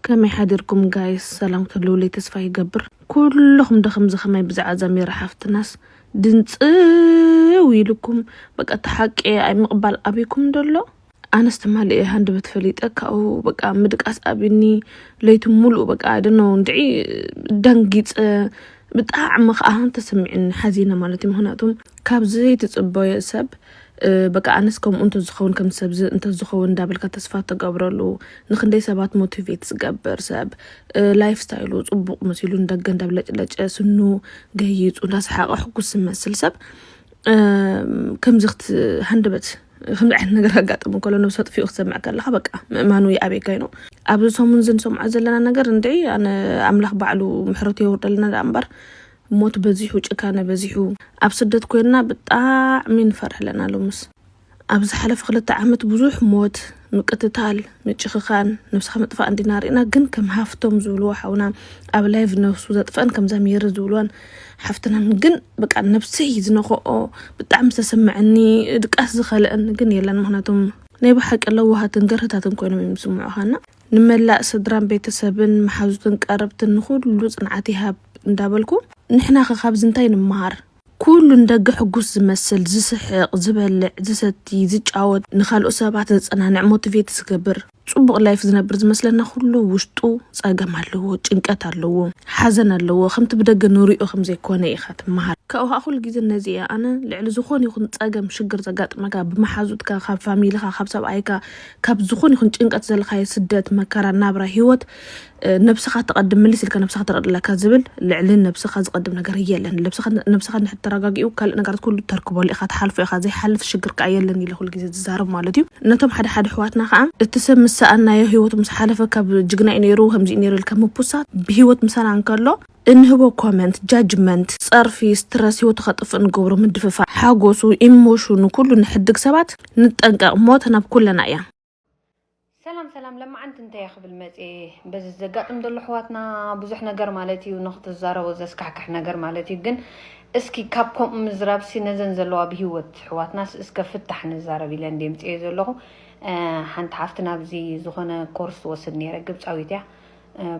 ከመይ ሓዲርኩም ጋይስ ሰላም ክትህልውለይ ተስፋ ይገብር ኩሉኩም ዶ ከምዚ ከማይ ብዛዕባ ዛሚራ ሓፍትናስ ድንጽው ኢሉኩም በቃ እቲ ሓቂ ኣይ ምቕባል ኣብይኩም ዶ ኣሎ ኣነስ ትማሊ እየ ሃንደበት ፈሊጠ ካብኡ በቃ ምድቃስ ኣብኒ ለይቲ ሙሉእ በቃ ኣይደኖ እንድዒ ደንጊፀ ብጣዕሚ ከዓ ተሰሚዕኒ ሓዚነ ማለት እዩ ምክንያቱም ካብ ዘይትፅበዮ ሰብ በቃ ኣነስ ከምኡ እንተዝኸውን ከም ሰብዚ እንተዝኸውን እንዳበልካ ተስፋ ተገብረሉ ንክንደይ ሰባት ሞቲቬት ዝገብር ሰብ ላይፍ ስታይሉ ፅቡቕ መሲሉ ንደገ እንዳብለጭለጨ ስኑ ገይፁ እንዳሰሓቐ ሕጉስ ዝመስል ሰብ ከምዚ ክትሃንደበት ከምዚ ዓይነት ነገር ኣጋጥሙ ከሎ ነብሲ ኣጥፊኡ ክትሰምዕ ከለካ በቃ ምእማኑ ይኣብየካ እዩ ኣብዚ ሰሙን እዚ ንሰምዖ ዘለና ነገር እንድዒ ኣነ ኣምላኽ ባዕሉ ምሕረቱ የውርደልና ደኣ እምበር ሞት በዚሑ ጭካነ በዚሑ ኣብ ስደት ኮይንና ብጣዕሚ ንፈርሕ ኣለና ሎምስ ኣብ ዝሓለፈ ክልተ ዓመት ብዙሕ ሞት ምቅትታል ምጭክካን ነብስካ ምጥፋእ እንዲና ሪእና ግን ከም ሃፍቶም ዝብልዎ ሓውና ኣብ ላይቭ ነብሱ ዘጥፈኣን ከምዛ ሜሪ ዝብልዋን ሓፍትናን ግን በቃ ነብሰይ ዝነከኦ ብጣዕሚ ዝተሰመዐኒ ድቃስ ዝከለእኒ ግን የለን ምክንያቱም ናይ ብሓቂ ለዋሃትን ገርህታትን ኮይኖም እዮም ዝስምዑካ እና ንመላእ ስድራን ቤተሰብን መሓዙትን ቀረብትን ንኹሉ ጽንዓት ይሃብ እንዳበልኩ ንሕናኸ ካብዚ እንታይ ንመሃር? ኩሉ ንደገ ሕጉስ ዝመስል፣ ዝስሕቅ፣ ዝበልዕ፣ ዝሰቲ፣ ዝጫወት፣ ንካልኦት ሰባት ዘጸናንዕ፣ ሞቲቬት ዝገብር፣ ጽቡቅ ላይፍ ዝነብር ዝመስለና ኩሉ ውሽጡ ጸገም ኣለዎ፣ ጭንቀት ኣለዎ፣ ሓዘን ኣለዎ፣ ከምቲ ብደገ ንሪኦ ከምዘይኮነ ኢኻ ትመሃር። ካብኡ ከኣ ኩሉ ግዜ ነዚ እየ ኣነ ልዕሊ ዝኾነ ይኹን ጸገም ሽግር ዘጋጥመካ ብመሓዙትካ ካብ ፋሚልኻ ካብ ሰብኣይካ ካብ ዝኾን ይኹን ጭንቀት ዘለኻዮ ስደት መከራ ናብራ ሂወት ነብስኻ ተቐድም ምልስ ኢልካ ነብስኻ ተቐድለካ ዝብል ልዕሊ ነብስኻ ዝቐድም ነገር የለን። ልብስኻ ነብስኻ ንድሕር ተረጋጊኡ ካልእ ነገራት ኩሉ ተርክበሉ ኢኻ ትሓልፎ ኢኻ ዘይሓልፍ ሽግር ከኣ የለን ኢለ ኩሉ ግዜ ዝዛረብ ማለት እዩ። ነቶም ሓደ ሓደ ኣሕዋትና ከኣ እቲ ሰብ ምስ ሰኣናዮ ሂወቱ ምስ ሓለፈ ካብ ጅግና እዩ ኔሩ ከምዚ እዩ ኔሩ ኢልካ ምፑሳት ብሂወት ምሳና እንከሎ እንህቦ ኮመንት፣ ጃጅመንት፣ ጸርፊ፣ ስትረስ፣ ህይወቱ ከጥፍእ ንገብሮ ምድፍፋእ፣ ሓጎሱ፣ ኢሞሽኑ፣ ኩሉ ንሕድግ ሰባት፣ ንጠንቀቅ ሞት ናብ ኩለና እያ። ሰላም ሰላም ለማዓንቲ እንታያ ክብል መፅየ በዚ ዘጋጥም ዘሎ ኣሕዋትና ብዙሕ ነገር ማለት እዩ ንክትዛረቦ ዘስካሕክሕ ነገር ማለት እዩ ግን እስኪ ካብ ከምኡ ምዝራብሲ ነዘን ዘለዋ ብሂወት ኣሕዋትናስ እስከ ፍታሕ ንዛረብ ኢለ እንደ ምፅየ ዘለኹ ሓንቲ ሓፍቲ ናብዚ ዝኾነ ኮርስ ትወስድ ነይረ ግብፃዊት እያ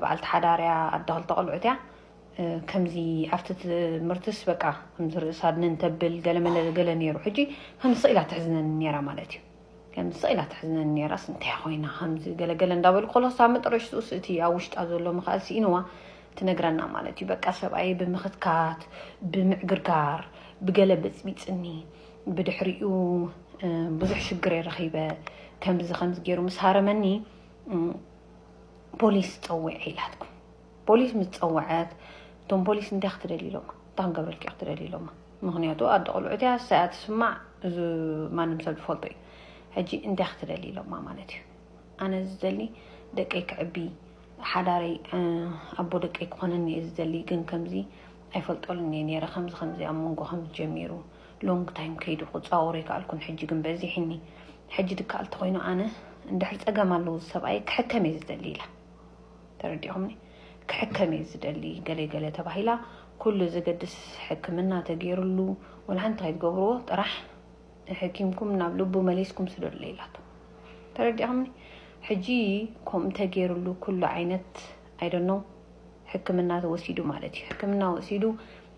በዓልቲ ሓዳር እያ ኣደ ክልተ ቆልዑት እያ ከምዚ ኣብቲ ትምህርትስ በቃ ከምዚ ርእስ ኣድንን ተብል ገለመለ ገለ ነይሩ ሕጂ ከምዚ ስቕ ኢላ ተሕዝነኒ ነይራ ማለት እዩ ከምዚ ስቕ ኢላ ተሕዝነኒ ነይራስ እንታይ ኮይና ከምዚ ገለገለ እንዳበሉ ከሎስ ኣብ መጠረሽትኡስ እቲ ኣብ ውሽጣ ዘሎ ምኽኣል ስኢንዋ ትነግረና ማለት እዩ በቃ ሰብኣየ ብምኽትካት ብምዕግርጋር ብገለ በፅቢፅኒ ብድሕሪኡ ብዙሕ ሽግር ረኺበ ከምዚ ከምዚ ገይሩ ምስ ሃረመኒ ፖሊስ ፀዊዐ ኢላትኩም ፖሊስ ምስ ፀወዐት እቶም ፖሊስ እንታይ ክትደሊ ኢሎማ እታ ክንገብረልኪ ክትደሊ ኢሎማ ምክንያቱ ኣደ ቆልዑት እያ ሰያ ትስማዕ እዚ ማንም ሰብ ዝፈልጦ እዩ ሕጂ እንታይ ክትደሊ ኢሎማ ማለት እዩ ኣነ ዝደሊ ደቀይ ክዕቢ ሓዳረይ ኣቦ ደቀይ ክኾነኒ እየ ዝደሊ ግን ከምዚ ኣይፈልጠሉን እየ ነይረ ከምዚ ከምዚ ኣብ መንጎ ከምዚ ጀሚሩ ሎንግ ታይም ከይዱ ክጻወሮ ኣይከኣልኩን ሕጂ ግን በዚሒኒ ሕጂ ድከኣል ተኮይኑ ኣነ እንድሕር ጸገም ኣለዎ እዚ ሰብኣይ ክሕከም እየ ዝደሊ ኢላ ተረዲኹምኒ ክሕከም እየ ዝደሊ ገለ ገለ ተባሂላ ኩሉ ዘገድስ ሕክምና ተገይርሉ ወልሓንቲ ከይትገብርዎ ጥራሕ ሕኪምኩም ናብ ልቡ መሊስኩም ስደሉ ኢላቶ ተረዲኹምኒ ሕጂ ከምኡ ተገይርሉ ኩሉ ዓይነት ኣይደኖ ሕክምና ተወሲዱ ማለት እዩ ሕክምና ወሲዱ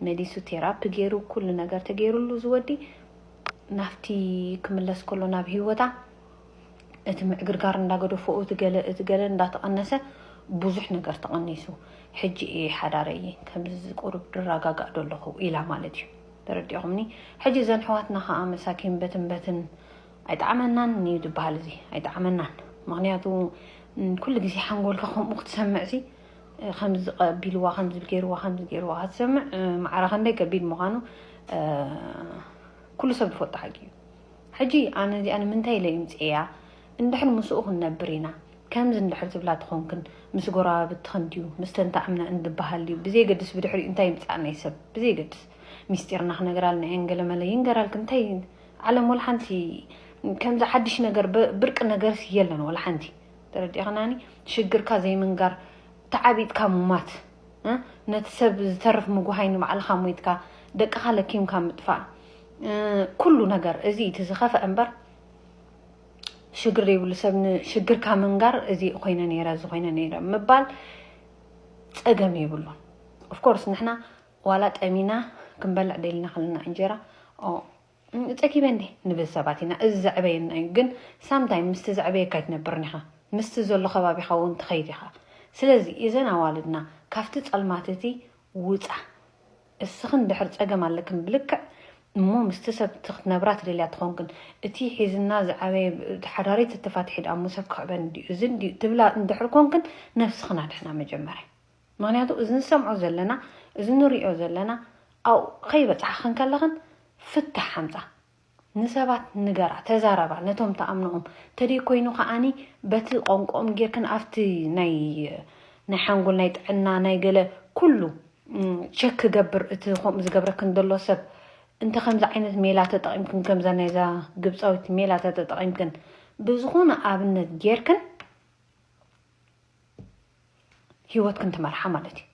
መሊሱ ቴራፒ ገይሩ ኩሉ ነገር ተገይሩሉ ዝወዲ ናፍቲ ክምለስ ከሎ ናብ ሂወታ እቲ ምዕግርጋር እንዳገደፈኡ እቲ ገለ እቲ ገለ እንዳተቐነሰ ብዙሕ ነገር ተቐኒሱ ሕጂ እየ ሓዳረ እየ ከምዚ ቁሩብ ድረጋጋእ ዶ ኣለኹ ኢላ ማለት እዩ ተረዲኹምኒ ሕጂ እዘን ሕዋትና ከዓ መሳኪን በትን በትን ኣይጣዕመናን እዩ ዝበሃል እዚ ኣይጣዕመናን ምክንያቱ ኩሉ ግዜ ሓንጎልካ ከምኡ ክትሰምዕ ሲ ከምዚ ቀቢልዋ ከምዚ ገይርዋ ከምዚ ገይርዋ ክትሰምዕ ማዕረ ከንደይ ከቢድ ምዃኑ ኩሉ ሰብ ዝፈልጦ ሓቂ እዩ ሕጂ ኣነ እዚኣ ንምንታይ ኢለ ይምፅእያ እንድሕር ምስኡ ክንነብር ኢና ከምዚ እንድሕር ትብላ ትኾንክን ምስ ጎረባብትኽን ድዩ ምስ ተንታዕምና እንድበሃል ድዩ ብዘይገድስ ብድሕሪኡ እንታይ ይምፃእ ናይ ሰብ ብዘይገድስ ሚስጢርና ክነግራልና እየን ገለመለ ይንገራልክን እንታይ ዓለም ወላ ሓንቲ ከምዚ ሓድሽ ነገር ብርቂ ነገርስ የለን ወላ ሓንቲ ተረዲእኽናኒ ሽግርካ ዘይምንጋር ተዓቢጥካ ሙማት ነቲ ሰብ ዝተርፍ ምጉሃይ ንባዕልኻ ሞይትካ ደቅኻ ለኪምካ ምጥፋእ ኩሉ ነገር እዚ እቲ ዝኸፍአ እምበር ሽግር ዘይብሉ ሰብ ንሽግርካ ምንጋር እዚ ኮይነ ነይረ እዚ ኮይነ ነይረ ምባል ፀገም የብሉን ኦፍኮርስ ንሕና ዋላ ጠሚና ክንበልዕ ደልና ከለና እንጀራ ጸጊበ እንዴ ንብል ሰባት ኢና፣ እዚ ዘዕበየና እዩ። ግን ሳም ታይም ምስቲ ዘዕበየካ ኣይትነብርን ኢኻ፣ ምስቲ ዘሎ ከባቢኻ እውን ትኸይድ ኢኻ። ስለዚ እዘን ኣዋልድና ካብቲ ጸልማት እቲ ውጻ፣ እስኽን ድሕር ጸገም ኣለክን ብልክዕ እሞ ምስቲ ሰብ ክትነብራ ትደልያ ተኾንክን እቲ ሒዝና ዝዓበየ ሓዳሪት ተተፋትሒ ድኣሞ ሰብ ክዕበን ድዩ እዚ ድዩ ትብላ እንድሕር ኮንክን ነብስኽን ኣድሕና መጀመርያ። ምክንያቱ እዚ ንሰምዖ ዘለና እዚ ንሪኦ ዘለና ኣብኡ ከይበፃሕኽን ከለኽን ፍታሕ ኣምፃ ንሰባት ንገራ ተዛረባ ነቶም ትኣምኖኦም ተደይ ኮይኑ ከዓኒ በቲ ቆንቆኦም ጌርክን ኣብቲ ናይ ናይ ሓንጎል ናይ ጥዕና ናይ ገለ ኩሉ ቸክ ክገብር እቲ ከምኡ ዝገብረክን ዘሎ ሰብ እንተ ከምዚ ዓይነት ሜላ ተጠቒምክን ከምዛ ናይዛ ግብፃዊት ሜላ ተተጠቒምክን ብዝኾነ ኣብነት ጌርክን ሂወትክን ትመርሓ ማለት እዩ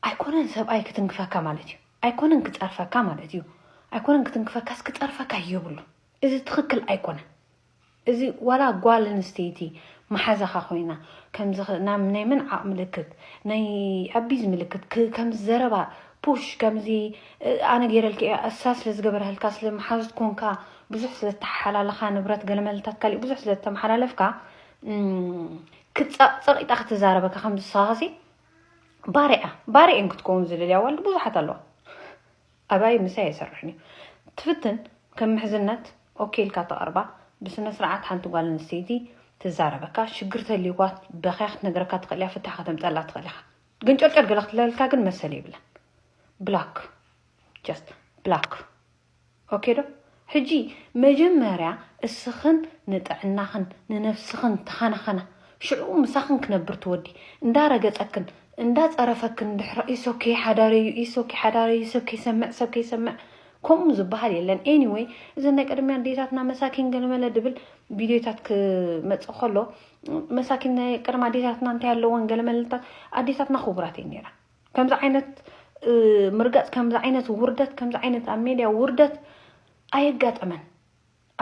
ኣይኮነን ሰብኣይ ክትንክፈካ ማለት እዩ ኣይኮነን ክፀርፈካ ማለት እዩ ኣይኮነን ክትንክፈካስ ክፀርፈካ የብሉ እዚ ትኽክል ኣይኮነን እዚ ዋላ ጓል ኣንስተይቲ መሓዛኻ ኮይና ከምዚ ናብ ናይ ምንዓቕ ምልክት ናይ ኣቢዝ ምልክት ከምዚ ዘረባ ፑሽ ከምዚ ኣነ ገይረልክ እያ እሳ ስለ ዝገበረህልካ ስለ መሓዙት ኮንካ ብዙሕ ስለተሓላለኻ ንብረት ገለመልታት ካሊእ ብዙሕ ስለተመሓላለፍካ ክትፀቕፀቕ ኢጣ ክትዛረበካ ከም ዝሳኻሲ ባሪያ ባሪኤን ክትከውን ዝደልያ ዋልድ ብዙሓት ኣለዋ ኣባይ ምሳይ ኣይሰርሕን እዩ ትፍትን ከም ምሕዝነት ኦኬ ኢልካ ተቐርባ ብስነ ስርዓት ሓንቲ ጓል ኣንስተይቲ ትዛረበካ ሽግር ተልይዋ በኸያ ክትነግረካ ትኽእል እያ ፍታሕ ከተምፀላ ትኽእል ኢኻ ግን ጨርጨር ገለ ክትለልካ ግን መሰል የብለን ብላክ ጀስት ብላክ ኦኬ ዶ ሕጂ መጀመርያ እስኽን ንጥዕናኽን ንነብስኽን ተኻናኸና ሽዑ ምሳኽን ክነብር ትወዲ እንዳ ረገጸክን እንዳ ጸረፈክን ድሕራ ኢስ ኦኬ ሓዳረዩ ኢስ ኦኬ ሓዳረዩ ሰብ ከይሰምዕ ሰብ ከይሰምዕ ከምኡ ዝብሃል የለን ኤኒወይ እዘን ናይ ቀደምያ ኣዴታትና መሳኪን ገለመለ ድብል ቪድዮታት ክመጽእ ከሎ መሳኪን ናይ ቀደም ኣዴታትና እንታይ ኣለወን ገለመለታት ኣዴታትና ክቡራት እየን ነይረን ከምዚ ዓይነት ምርጋፅ ከምዚ ዓይነት ውርደት ከምዚ ዓይነት ኣብ ሜድያ ውርደት ኣየጋጠመን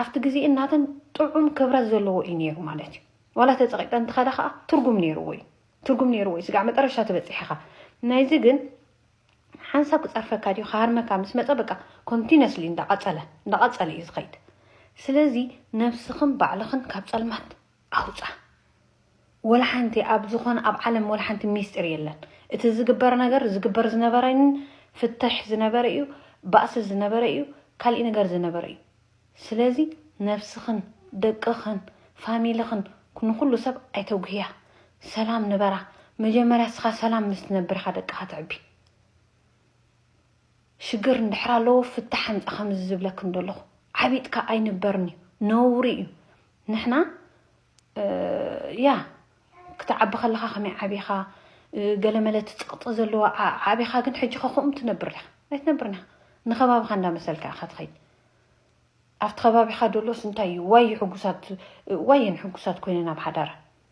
ኣብቲ ግዜ እናተን ጥዑም ክብረት ዘለዎ እዩ ነይሩ ማለት እዩ ዋላ ተፀቂጠ እንትኸዳ ከዓ ትርጉም ነይርዎ እዩ ትርጉም ነይርዎ እዩ ስጋዕ መጠረሻ ትበፅሕ ኢኻ ናይዚ ግን ሓንሳብ ክፀርፈካ ድዩ ክሃርመካ ምስ መፀ በቃ ኮንቲነስሊ እንዳቐፀለ እንዳቐፀለ እዩ ዝኸይድ ስለዚ ነብስኽን ባዕልኽን ካብ ፀልማት ኣውጻ ወላ ሓንቲ ኣብ ዝኾነ ኣብ ዓለም ወላ ሓንቲ ሚስጢር የለን እቲ ዝግበር ነገር ዝግበር ዝነበረ ን ፍተሽ ዝነበረ ኢዩ ባእሲ ዝነበረ ኢዩ ካሊእ ነገር ዝነበረ ኢዩ ስለዚ ነብስኽን ደቅኽን ፋሚልኽን ንኹሉ ሰብ ኣይተጉህያ ሰላም ንበራ መጀመርያ እስኻ ሰላም ምስ ትነብር ኢኻ ደቅኻ ተዕቢ። ሽግር እንድሕር ኣለዎ ፍታሕ ኣምጽ ከምዚ ዝብለክን ደለኹ ዓቢጥካ ኣይንበርን እዩ ነውሪ እዩ ንሕና ያ ክትዓቢ ከለኻ ከመይ ዓቢኻ ገለመለ ትጽቕጢ ዘለዋ ዓቢኻ ግን ሕጂ ከኹም ትነብር ዲኻ ኣይትነብርን ኢኻ ንኸባቢኻ እንዳመሰልካ ኢኻ ትኸይድ ኣብቲ ከባቢኻ ደሎስ እንታይ እዩ ዋይ ሕጉሳት ዋየን ሕጉሳት ኮይነን ኣብ ሓዳረን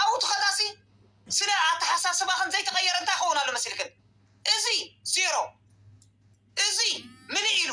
ኣብኡ ትኸዳሲ ስለ ኣተሓሳስባኽን ዘይተቐየረ እንታይ ይኸውን ኣሎ መሲልክን? እዚ ዜሮ እዚ ምልእ ኢሉ።